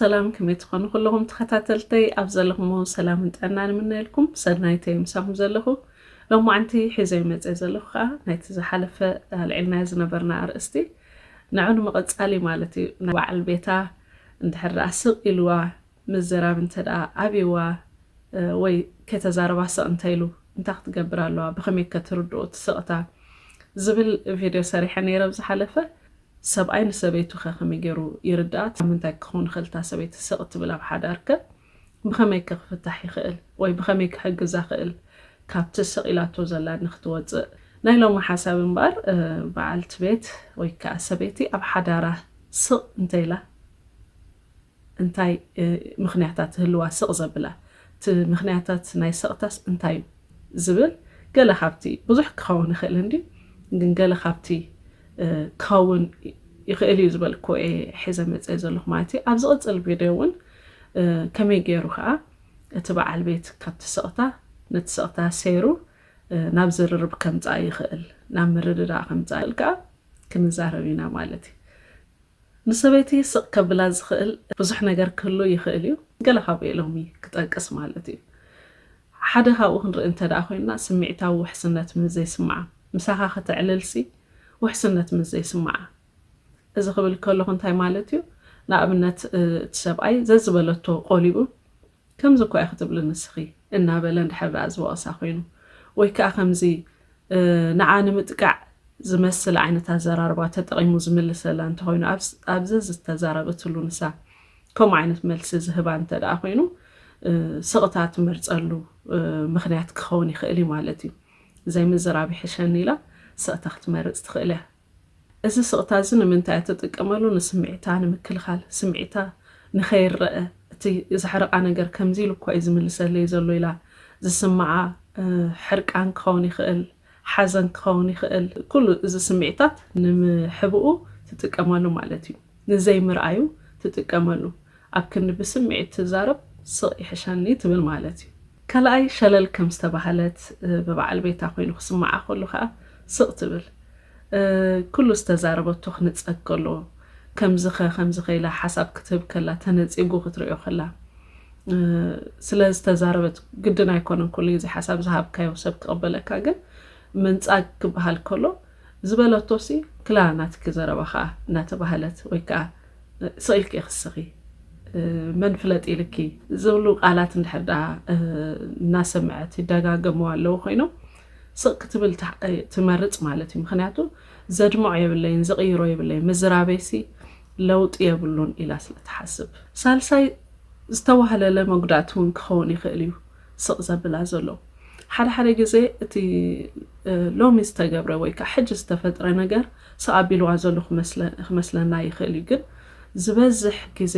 ሰላም ከመይ ትኾኑ ኩለኹም ተኸታተልተይ ኣብ ዘለኹም ሰላምን ጥዕና ንምነየልኩም ሰናይተይ ምሳኹም ዘለኹ ሎማዓንቲ ሒዘ መፀ ዘለኹ ከዓ ናይቲ ዝሓለፈ ኣልዒልናዮ ዝነበርና ኣርእስቲ ንዑ ንምቕፃል እዩ ማለት እዩ ንበዓል ቤታ እንድሕር ደኣ ስቕ ኢልዋ ምዝራብ እንተድኣ ኣብይዋ ወይ ከይተዛረባ ስቕ እንተይሉ እንታይ ክትገብር ኣለዋ ብኸመይከ ትርድኦ እቲ ስቕታ ዝብል ቪድዮ ሰሪሐ ነይረ ኣብ ዝሓለፈ። ሰብኣይ ንሰበይቱኸ ከመይ ገይሩ ይርድኣ ካብ ምንታይ ክኸውን ይኽእል እታ ሰበይቲ ስቕ ትብል ኣብ ሓዳርከ ብኸመይከ ክፍታሕ ይኽእል ወይ ብኸመይ ክሕግዛ እኽእል ካብቲ ስቕ ኢላቶ ዘላ ንክትወፅእ። ናይ ሎሚ ሓሳብ እምበኣር በዓልቲ ቤት ወይ ከዓ ሰበይቲ ኣብ ሓዳራ ስቕ እንተይላ። እንታይ ምኽንያታት ይህልዋ ስቕ ዘብላ? እቲ ምኽንያታት ናይ ሰቕታስ እንታይ እዩ? ዝብል ገለ ካብቲ፣ ብዙሕ ክኸውን ይኽእል እንድዩ፣ ግን ገለ ካብቲ ክኸውን ይኽእል እዩ ዝበልክዎ እየ ሒዘ መጸ ዘለኹ ማለት እዩ። ኣብ ዝቕጽል ቪድዮ እውን ከመይ ገይሩ ከኣ እቲ በዓል ቤት ካብቲ ሰቕታ ነቲ ሰቕታ ሰይሩ ናብ ዝርርብ ከምጽኣ ይኽእል፣ ናብ ምርድዳእ ከምጽኣ ይኽእል ከኣ ክንዛረብ ኢና ማለት እዩ። ንሰበይቲ ስቕ ከብላ ዝኽእል ብዙሕ ነገር ክህሉ ይኽእል እዩ፣ ገለ ካብኡ ሎሚ ክጠቅስ ማለት እዩ። ሓደ ካብኡ ክንርኢ እንተድኣ ኮይንና ስምዒታዊ ውሕስነት ምስ ዘይስምዓ፣ ምሳኻ ከተዕልልሲ ውሕስነት ምስ ዘይስምዓ። እዚ ክብል ከለኹ እንታይ ማለት እዩ፣ ንኣብነት እቲ ሰብኣይ ዘዝበለቶ ቆሊኡ ከምዚ እኳ ኢኺ ትብሊ ንስኺ እናበለ እንድሕር ደኣ ዝወቕሳ ኮይኑ፣ ወይ ከኣ ከምዚ ንዓ ንምጥቃዕ ዝመስል ዓይነት ኣዘራርባ ተጠቒሙ ዝምልሰላ እንተኾይኑ፣ ኣብ ዘዝተዛረበትሉ ንሳ ከምኡ ዓይነት መልሲ ዝህባ እንተደኣ ኮይኑ፣ ስቕታ ትመርጸሉ ምኽንያት ክኸውን ይኽእል እዩ ማለት እዩ። ዘይምዝራብ ይሕሸኒ ኢላ ስቕታ ክትመርጽ ትኽእል እያ። እዚ ስቕታ እዚ ንምንታይ እያ እትጥቀመሉ? ንስምዒታ ንምክልኻል፣ ስምዒታ ንኸይረኣ፣ እቲ ዘሕርቓ ነገር ከምዚ ኢሉ እኳ እዩ ዝምልሰለይ ዘሎ ኢላ። ዝስምዓ ሕርቃን ክኸውን ይኽእል፣ ሓዘን ክኸውን ይኽእል፣ ኩሉ እዚ ስምዒታት ንምሕብኡ ትጥቀመሉ ማለት እዩ። ንዘይምርኣዩ ትጥቀመሉ ኣብ ክንዲ ብስምዒት ትዛረብ ስቕ ይሕሸኒ ትብል ማለት እዩ። ካልኣይ ሸለል ከም ዝተባህለት ብበዓል ቤታ ኮይኑ ክስምዓ ከሎ ከኣ ስቕ ትብል። ኩሉ ዝተዛረበቶ ክንጸግ ከሎ ከምዚኸ ከምዚኸ ኢላ ሓሳብ ክትህብ ከላ ተነጺጉ ክትርእዮ ከላ ስለ ዝተዛረበት ግድን ኣይኮነን ኩሉ ግዜ ሓሳብ ዝሃብካዮ ሰብ ክቕበለካ ግን ምንጻግ ክበሃል ከሎ ዝበለቶ'ሲ ክላ ናትኪ ዘረባ ከኣ እናተባህለት ወይ ከኣ ስቕ ኢልኪ ኢኺ ትስቂ መን ፍለጥ ኢልኪ ዝብሉ ቃላት እንድሕር ደኣ እናሰምዐት ይደጋገምዋ ኣለዉ ኮይኖም ስቕ ክትብል ትመርጽ ማለት እዩ ምክንያቱ ዘድምዖ የብለይን ዝቕይሮ የብለይን ምዝራበይሲ ለውጢ የብሉን ኢላ ስለ ትሓስብ ሳልሳይ ዝተዋህለለ መጉዳእቲ እውን ክኸውን ይኽእል እዩ ስቕ ዘብላ ዘሎ። ሓደ ሓደ ግዜ እቲ ሎሚ ዝተገብረ ወይ ከኣ ሕጂ ዝተፈጥረ ነገር ስቕ ኣቢልዋ ዘሎ ክመስለና ይኽእል እዩ። ግን ዝበዝሕ ግዜ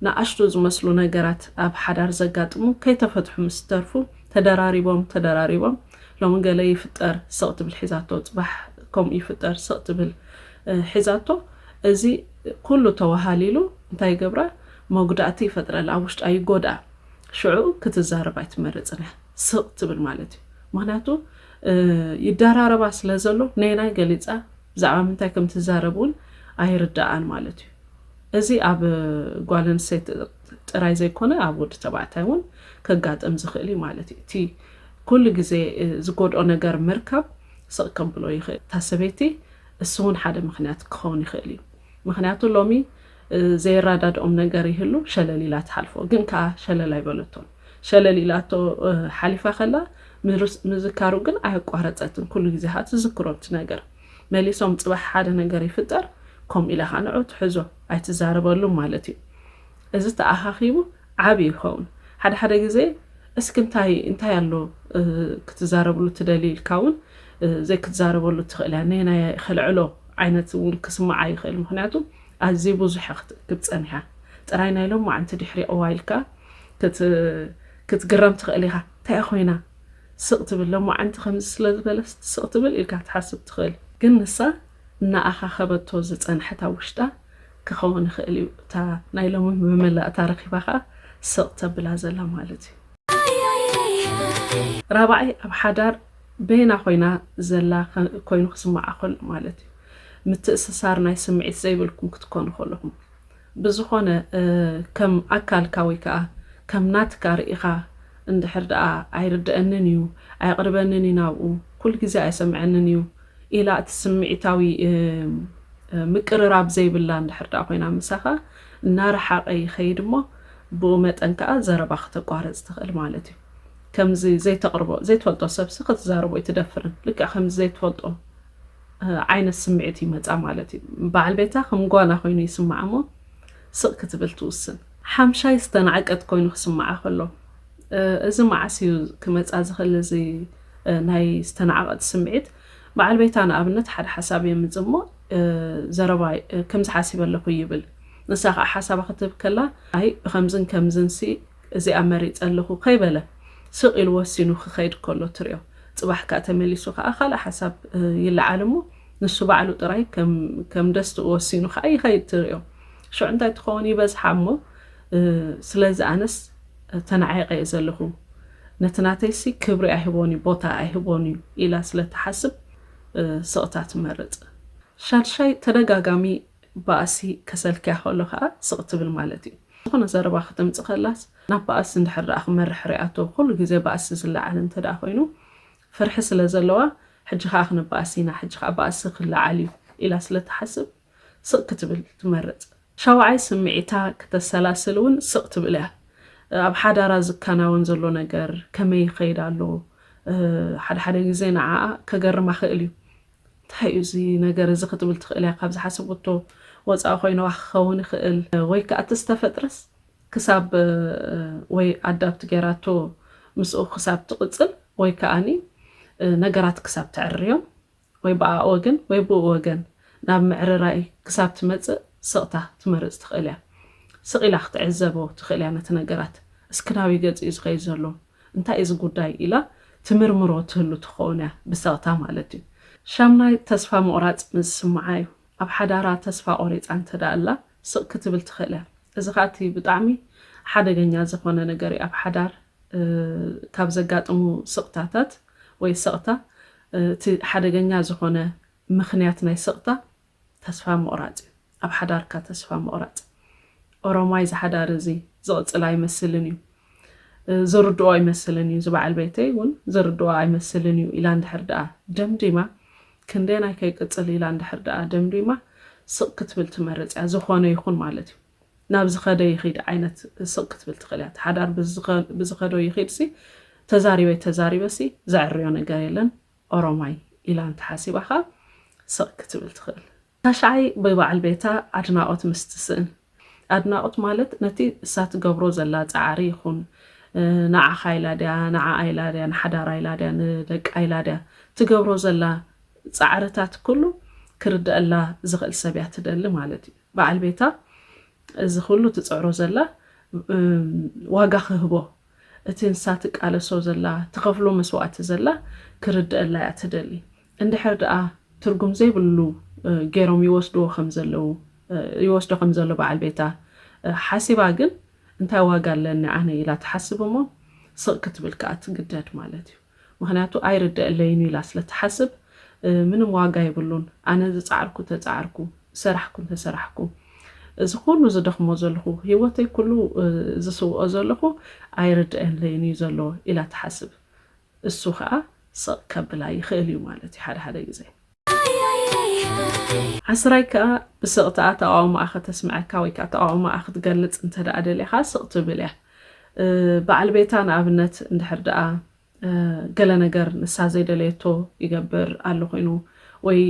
ንኣሽቱ ዝመስሉ ነገራት ኣብ ሓዳር ዘጋጥሙ ከይተፈትሑ ምስ ዝተርፉ ተደራሪቦም ተደራሪቦም ሎሚ ገለ ይፍጠር ስቕ ትብል ሒዛቶ ጽባሕ ከምኡ ይፍጠር ስቕ ትብል ሒዛቶ እዚ ኩሉ ተወሃሊሉ እንታይ ይገብራ መጉዳእቲ ይፈጥረላ ኣብ ውሽጣ ይጎድኣ። ሽዑ ክትዛረብ ኣይትመርጽን እያ ስቕ ትብል ማለት እዩ ምክንያቱ ይዳራረባ ስለ ዘሎ ነየናይ ገሊጻ ብዛዕባ ምንታይ ከም ትዛረብ እውን ኣይርዳኣን ማለት እዩ እዚ ኣብ ጓል ኣንስተይቲ ጥራይ ዘይኮነ ኣብ ወዲ ተባዕታይ እውን ከጋጥም ዝኽእል እዩ ማለት እዩ እቲ ኩሉ ግዜ ዝጎድኦ ነገር ምርካብ ስቕ ከብሎ ይኽእል እታ ሰበይቲ እሱ እውን ሓደ ምክንያት ክኸውን ይኽእል እዩ ምክንያቱ ሎሚ ዘየራዳድኦም ነገር ይህሉ ሸለል ኢላ ትሓልፎ ግን ከኣ ሸለል ኣይበለቶን ሸለል ኢላቶ ሓሊፋ ከላ ምዝካሩ ግን ኣየቋረጸትን ኩሉ ግዜ ከኣ ትዝክሮ እቲ ነገር መሊሶም ጽባሕ ሓደ ነገር ይፍጠር ከምኡ ኢላ ከኣ ንዑ ትሕዞ ኣይትዛረበሉን ማለት እዩ እዚ ተኣኻኺቡ ዓቢ ይኸውን ሓደ ሓደ ግዜ እስኪ እንታይ እንታይ ኣሎ ክትዛረብሉ ትደሊ ኢልካ እውን ዘይክትዛረበሉ ትኽእል እያ ነየናይ ከልዕሎ ዓይነት እውን ክስምዓ ይኽእል ምክንያቱ ኣዝዩ ብዙሕ ክትእክብ ጸኒሓ ጥራይ ናይ ሎማዓንቲ ድሕሪ እዋ ኢልካ ክትግረም ትኽእል ኢኻ ታይ'ያ ኮይና ስቕ ትብል ሎማዓንቲ ከምዚ ስለ ዝበለስ ስቕ ትብል ኢልካ ክትሓስብ ትኽእል ግን ንሳ እናኣኻኸበቶ ዝጸንሐት ኣብ ውሽጣ ክኸውን ይኽእል እዩ እታ ናይ ሎሚ መመላእታ ረኺባ ከኣ ስቕ ተብላ ዘላ ማለት እዩ። ራብዓይ ኣብ ሓዳር በየና ኮይና ዘላ ኮይኑ ክስምዓ ከሎ ማለት እዩ። ምትእስሳር ናይ ስምዒት ዘይብልኩም ክትኮኑ ከለኹም ብዝኾነ ከም ኣካልካ ወይ ከኣ ከም ናትካ ርኢኻ እንድሕር ደኣ ኣይርደኣንን እዩ ኣየቕርበንን እዩ ናብኡ ኩሉ ግዜ ኣየሰምዐንን እዩ ኢላ እቲ ስምዒታዊ ምቅርራብ ዘይብላ እንድሕር ደኣ ኮይና ምሳኻ እናረሓቐ ይኸይድ እሞ ብኡ መጠን ከኣ ዘረባ ክተቋርጽ ትኽእል ማለት እዩ ከምዚ ዘይተቕርቦ ዘይትፈልጦ ሰብሲ ክትዛረቦ ኣይትደፍርን ልክዕ ከምዚ ዘይትፈልጦ ዓይነት ስምዒት ይመጻ ማለት እዩ። በዓል ቤታ ከም ጓና ኮይኑ ይስምዓ እሞ ስቕ ክትብል ትውስን። ሓምሻይ ዝተናዕቀት ኮይኑ ክስምዓ ከሎ። እዚ መዓስ እዩ ክመጻ ዝኽእል እዚ ናይ ዝተናዕቐት ስምዒት? በዓል ቤታ ንኣብነት ሓደ ሓሳብ የምጽእ እሞ ዘረባ ከምዚ ሓሲበ ኣለኹ ይብል። ንሳ ከኣ ሓሳባ ክትህብ ከላ ኣይ ብከምዝን ከምዝንሲ እዚኣ መሪጸ ኣለኹ ከይበለ ስቕ ኢሉ ወሲኑ ክኸይድ ከሎ ትሪኦ። ጽባሕ ከኣ ተመሊሱ ከኣ ካልእ ሓሳብ ይለዓል እሞ ንሱ ባዕሉ ጥራይ ከም ደስትኡ ወሲኑ ከኣ ይኸይድ ትሪኦ። ሽዑ እንታይ ትኸውን ይበዝሓ እሞ ስለዚ ኣነስ ተናዒቐ እየ ዘለኹ ነቲ ናተይሲ ክብሪ ኣይህቦን እዩ ቦታ ኣይህቦን እዩ ኢላ ስለ ትሓስብ ስቕታ ትመርጽ። ሻድሻይ ተደጋጋሚ ባእሲ ከሰልክያ ከሎ ከኣ ስቕ ትብል ማለት እዩ። ዝኾነ ዘረባ ከተምጽእ ከላስ ናብ ባእሲ እንድሕር ደኣ ክመርሕ ሪኣቶ ኩሉ ግዜ ባእሲ ዝለዓል እንተ ደኣ ኮይኑ ፍርሒ ስለ ዘለዋ ሕጂ ከኣ ክነባእሲ ኢና ሕጂ ከኣ ባእሲ ክለዓል እዩ ኢላ ስለ ትሓስብ ስቕ ክትብል ትመርጽ። ሻውዓይ ስምዒታ ክተሰላስል እውን ስቕ ትብል እያ። ኣብ ሓዳራ ዝከናወን ዘሎ ነገር ከመይ ይኸይድ ኣሎ ሓደ ሓደ ግዜ ንዓኣ ከገርማ ክእል እዩ። እንታይ እዩ እዚ ነገር እዚ ክትብል ትኽእል እያ ካብ ዝሓሰበቶ ወጻኢ ኮይንዋ ክኸውን ይኽእል ወይ ከኣ እቲ ዝተፈጥረስ ክሳብ ወይ ኣዳብት ጌራቶ ምስኡ ክሳብ ትቕጽል ወይ ከኣኒ ነገራት ክሳብ ተዕርዮም ወይ ብኣኣ ወገን ወይ ብኡ ወገን ናብ ምዕርራይ ክሳብ ትመጽእ ስቕታ ትመርጽ ትኽእል እያ ስቕ ኢላ ክትዕዘቦ ትኽእል እያ ነቲ ነገራት እስኪ ናበይ ገጹ እዩ ዝኸይድ ዘሎ እንታይ እዩ እዚ ጉዳይ ኢላ ትምርምሮ ትህሉ ትኸውን እያ፣ ብሰቕታ ማለት እዩ። ሻምናይ ተስፋ ምቑራጽ ምስ ዝስምዓ እዩ። ኣብ ሓዳራ ተስፋ ቆሪጻ እንተደኣላ ስቕ ክትብል ትኽእል እያ። እዚ ከኣ እቲ ብጣዕሚ ሓደገኛ ዝኾነ ነገር እዩ። ኣብ ሓዳር ካብ ዘጋጥሙ ስቕታታት ወይ ሰቕታ እቲ ሓደገኛ ዝኾነ ምኽንያት ናይ ስቕታ ተስፋ ምቑራጽ እዩ። ኣብ ሓዳርካ ተስፋ ምቕራጽ ኦሮማይ ዝሓዳር እዚ ዝቕጽል ኣይመስልን እዩ ዝርድኦ ኣይመስልን እዩ ዝበዓል ቤተይ እውን ዝርድኦ ኣይመስልን እዩ ኢላ እንድሕር ደኣ ደምዲማ ክንደየናይ ከይቅጽል ኢላ እንድሕር ደኣ ደምዲማ ስቕ ክትብል ትመርጽ እያ ዝኾነ ይኹን ማለት እዩ ናብ ዝኸደ ይኺድ ዓይነት ስቕ ክትብል ትኽእል እያ ሓዳር ብዝኸዶ ይኺድሲ ተዛሪበይ ተዛሪበሲ ዘዕርዮ ነገር የለን ኦሮማይ ኢላ እንተሓሲባ ኸኣ ስቕ ክትብል ትኽእል ታሽዓይ ብባዓል ቤታ ኣድናቆት ምስ ትስእን ኣድናቆት ማለት ነቲ እሳ ትገብሮ ዘላ ጻዕሪ ይኩን ንዓካ ኢላ ድያ ንዓኣ ኢላ ድያ ንሓዳራ ኢላ ድያ ንደቃ ኢላ ድያ ትገብሮ ዘላ ጻዕርታት ኩሉ ክርደኣላ ዝክእል ሰብ እያ ትደሊ ማለት እዩ ባዓል ቤታ እዚ ኩሉ ትጽዕሮ ዘላ ዋጋ ክህቦ እቲ ንሳ ትቃለሶ ዘላ ትኸፍሎ መስዋእቲ ዘላ ክርደኣላ እያ ትደሊ እንድሕር ደኣ ትርጉም ዘይብሉ ጌሮም ይወስድዎ ከም ዘለዉ ይወስዶ ከም ዘሎ በዓል ቤታ ሓሲባ ግን እንታይ ዋጋ ኣለኒ ኣነ ኢላ ትሓስብ እሞ ስቕ ክትብል ከኣ ትግደድ ማለት እዩ። ምኽንያቱ ኣይርደኣለይን'ዩ ኢላ ስለ ትሓስብ ምንም ዋጋ የብሉን ኣነ ዝጸዓርኩ ተጻዓርኩ ዝሰራሕኩ እንተሰራሕኩ እዚ ኩሉ ዝደኽሞ ዘለኹ ሂወተይ ኩሉ ዝስውኦ ዘለኹ ኣይርደኣለይን'ዩ ዘሎ ኢላ ትሓስብ እሱ ከኣ ስቕ ከብላ ይኽእል'ዩ ማለት'ዩ ሓደ ሓደ ግዜ። ዓስራይ ከኣ ብስቕታኣ ተቓውሞኣ ከተስምዐካ ወይ ከኣ ተቓውሞኣ ክትገልጽ እንተ ደኣ ደሊኻ ስቕ ትብል እያ። በዓል ቤታ ንኣብነት እንድሕር ደኣ ገለ ነገር ንሳ ዘይደለየቶ ይገብር ኣሉ ኮይኑ ወይ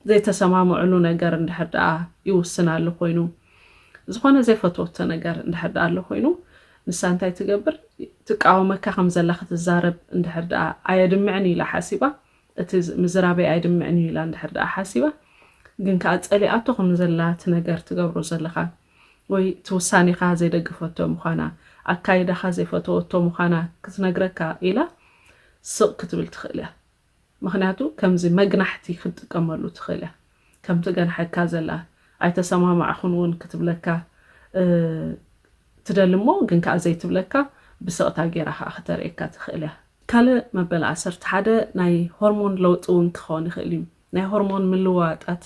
ዘይተሰማምዑሉ ነገር እንድሕር ደኣ ይውስን ኣሉ ኮይኑ ዝኾነ ዘይፈትወቶ ነገር እንድሕር ደኣ ኣሉ ኮይኑ ንሳ እንታይ ትገብር ትቃወመካ ከም ዘላ ክትዛረብ እንድሕር ደኣ ኣየድምዕን ኢላ ሓሲባ እቲ ምዝራበይ ኣይድምዕን እዩ ኢላ እንድሕር ደኣ ሓሲባ ግን ከኣ ጸሊኣቶ ከም ዘላ እቲ ነገር ትገብሮ ዘለኻ ወይ እቲ ውሳኔኻ ዘይደገፈቶ ምዃና ኣካይዳኻ ዘይፈተወቶ ምዃና ክትነግረካ ኢላ ስቕ ክትብል ትኽእል እያ ምኽንያቱ ከምዚ መግናሕቲ ክትጥቀመሉ ትኽእል እያ። ከም ትገንሐካ ዘላ ኣይተሰማማዕኹን ውን ክትብለካ ትደሊ እሞ ግን ከኣ ዘይትብለካ ብስቕታ ጌራ ከኣ ክተርእየካ ትኽእል እያ። ካልእ መበል ዓሰርተ ሓደ ናይ ሆርሞን ለውጢ ውን ክኸውን ይኽእል እዩ። ናይ ሆርሞን ምልውዋጣት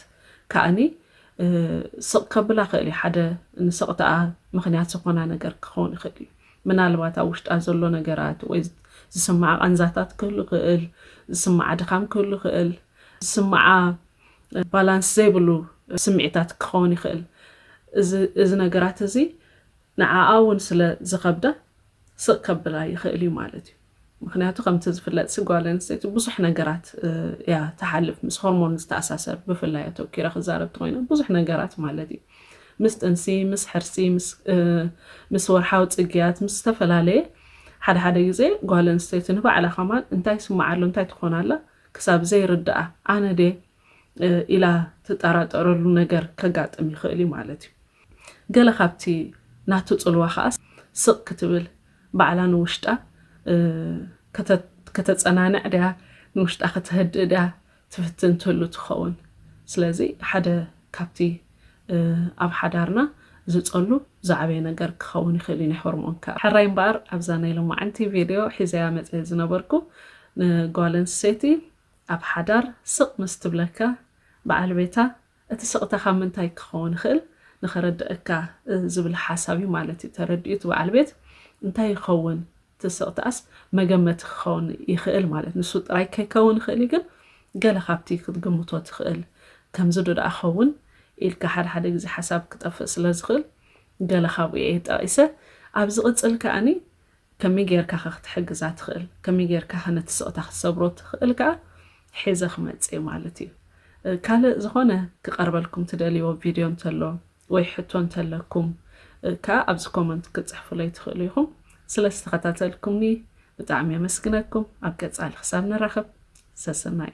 ከኣኒ ስቕ ከብላ ይኽእል እዩ። ሓደ ንስቕታኣ ምኽንያት ዝኾና ነገር ክኸውን ይኽእል እዩ። ምናልባት ኣብ ውሽጣ ዘሎ ነገራት ወይ ዝስምዓ ቃንዛታት ክህሉ ይኽእል፣ ዝስምዓ ድኻም ክህሉ ይኽእል። ዝስምዓ ባላንስ ዘይብሉ ስምዒታት ክኸውን ይኽእል። እዚ እዚ ነገራት እዚ ንዓኣ እውን ስለ ዝኸብዳ ስቕ ከብላ ይኽእል እዩ ማለት እዩ። ምኽንያቱ ከምቲ ዝፍለጥሲ ጓል ኣንስተይቲ ብዙሕ ነገራት እያ ትሓልፍ ምስ ሆርሞን ዝተኣሳሰር ብፍላይ ኣተኪረ ክዛረብ ተኮይነ ብዙሕ ነገራት ማለት እዩ ምስ ጥንሲ ምስ ሕርሲ ምስ ወርሓዊ ፅግያት ምስ ዝተፈላለየ ሓደ ሓደ ግዜ ጓል ኣንስተይቲ ንባዕላ ከማን እንታይ ስምዓሎ እንታይ ትኾናላ ክሳብ ዘይርድኣ ኣነ ድየ ኢላ ትጠራጠረሉ ነገር ከጋጥም ይኽእል እዩ ማለት እዩ። ገለ ካብቲ ናቱ ጽልዋ ከኣ ስቕ ክትብል ባዕላ ንውሽጣ ከተጸናንዕ ድያ ንውሽጣ ከተህድእ ድያ ትፍትን ትህሉ ትኸውን። ስለዚ ሓደ ካብቲ ኣብ ሓዳርና ዝጸሉ ዝዓበየ ነገር ክኸውን ይኽእል እዩ ናይ ሆርሞን ከኣ። ሕራይ እምበኣር ኣብዛ ናይ ሎማዕንቲ ቪድዮ ሒዘያ መጸ ዝነበርኩ ንጓል ኣንስተይቲ ኣብ ሓዳር ስቕ ምስ ትብለካ በዓል ቤታ እቲ ስቕታ ካብ ምንታይ ክኸውን ይኽእል ንኸረድኣካ ዝብል ሓሳብ እዩ ማለት እዩ ተረዲኡ እቲ በዓል ቤት እንታይ ይኸውን እቲ ስቕታ'ስ መገመቲ ክኸውን ይኽእል ማለት ንሱ ጥራይ ከይከውን ይኽእል'ዩ ግን ገለ ካብቲ ክትግምቶ ትኽእል ከምዚ ዶ ደኣ ኸውን ኢልካ ሓደ ሓደ ግዜ ሓሳብ ክጠፍእ ስለ ዝኽእል ገለ ካብኡ'የ ጠቒሰ ኣብ ዝቕጽል ከኣ ከመይ ጌርካ'ኸ ክትሕግዛ ትኽእል ከመይ ጌርካ'ኸ ነቲ ስቕታ ክትሰብሮ ትኽእል ከኣ ሒዘ ክመጽእ'የ ማለት'ዩ ካልእ ዝኾነ ክቐርበልኩም ትደልይዎ ቪድዮ እንተሎ ወይ ሕቶ እንተለኩም ከኣ ኣብዚ ኮመንት ክትጽሕፉለይ ትኽእሉ ኢኹም። ስለ ዝተኸታተልኩምኒ ብጣዕሚ የመስግነኩም። ኣብ ቀጻሊ ክሳብ ንራኸብ ሰሰናዩ።